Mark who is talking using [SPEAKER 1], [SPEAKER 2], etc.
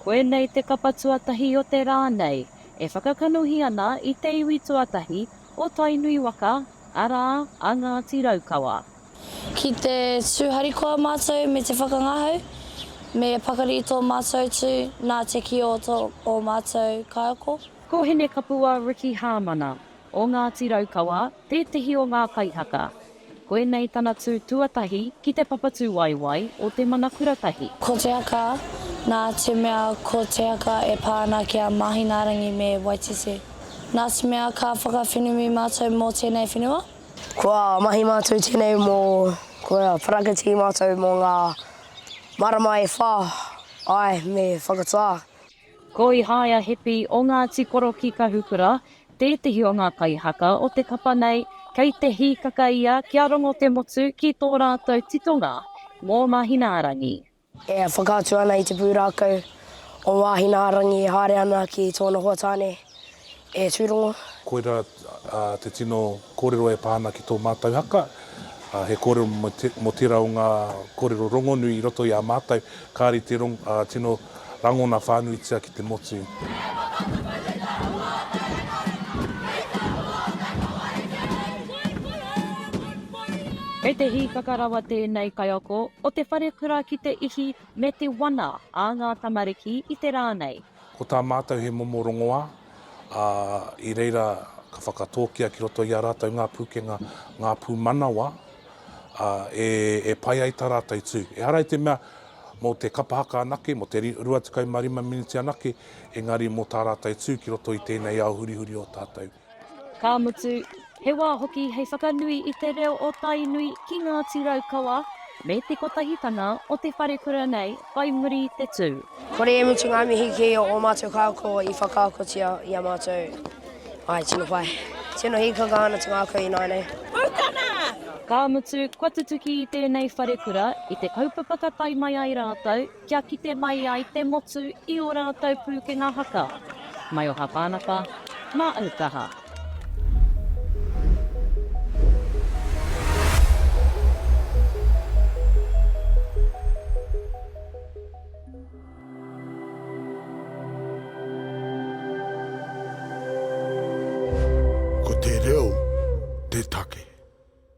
[SPEAKER 1] Koinei te kapa tuatahi o te rā nei e whakakanohi ana i te iwi tuatahi o Tainui waka, arā, a Ngāti Raukawa. Ki te
[SPEAKER 2] tū harikoa mātou me te whakangahau, me pakari tō mātou tū nā te kī o tō mātou kaiako. Ko Hinekapua
[SPEAKER 1] Ricky Hāmana, o Ngāti Raukawa, tētehi o ngā kaihaka. Koinei tana tū tuatahi ki te papatūwaewae o Te Mana Kura Tahi. Ko Te Aka,
[SPEAKER 2] nā te mea ko Te Aka e pā ana ki a Māhinaarangi me Waititi. Nā te mea ka whakawhenumi mātou mō tēnei whenua. Kua mahi
[SPEAKER 3] mātou tēnei mō, kua parakiti mātou mō ngā marama e whā, āe, me whakatā. Ko
[SPEAKER 1] Ihaia Hepi o Ngāti Korokī Kahukura tētehi o ngā kaihaka o te kapa nei, kei te hīkaka ia kia rongo te motu ki tō rātou titonga mō Māhinaarangi. E
[SPEAKER 3] whakaatu ana i te pūrākau o Māhinaarangi e haere ana ki tōna hoa tāne, E Tūrongo. Koira
[SPEAKER 4] te tino kōrero e pā ana ki tō mātou haka. He kōrero mō tērā o ngā kōrero rongonui i roto i a mātou, kāri te tino rangona whānuitia ki te motu.
[SPEAKER 1] Kei te hīkaka rawa tēnei kaiako o te wharekura ki te ihi me te wana a ngā tamariki i te rā nei. Ko tā mātou
[SPEAKER 4] he momo rongoā, ā, i reira ka whakatōkia ki roto i a rātou ngā pūkenga, ngā pūmanawa, ā, e, e pai ai tā rātou tū. Ehara i te mea mō te kapa haka anake, mō te 25 miniti anake, engari mō tā rātou tū ki roto i tēnei ao hurihuri o tātou. Ka mutu,
[SPEAKER 1] he wā hoki hei whakanui i te reo o Tainui ki Ngāti Raukawa me te kotahitanga o te wharekura nei whai muri i te tū. Kore e mutu ngā
[SPEAKER 3] mihi ki ō mātou kākō i whakaakotia i a mātou. Āe, tino pai. Tino hīkaka ana te ngākau ināianei. Putana!
[SPEAKER 1] Ka mutu, kua tutuki i tēnei wharekura, i te kaupapa ka tae mai ai rātou, Kia kite mai ai te motu i ō rātou pūkenga haka. Maioha Pānapa, mā au kaha.
[SPEAKER 5] Ko te reo te take.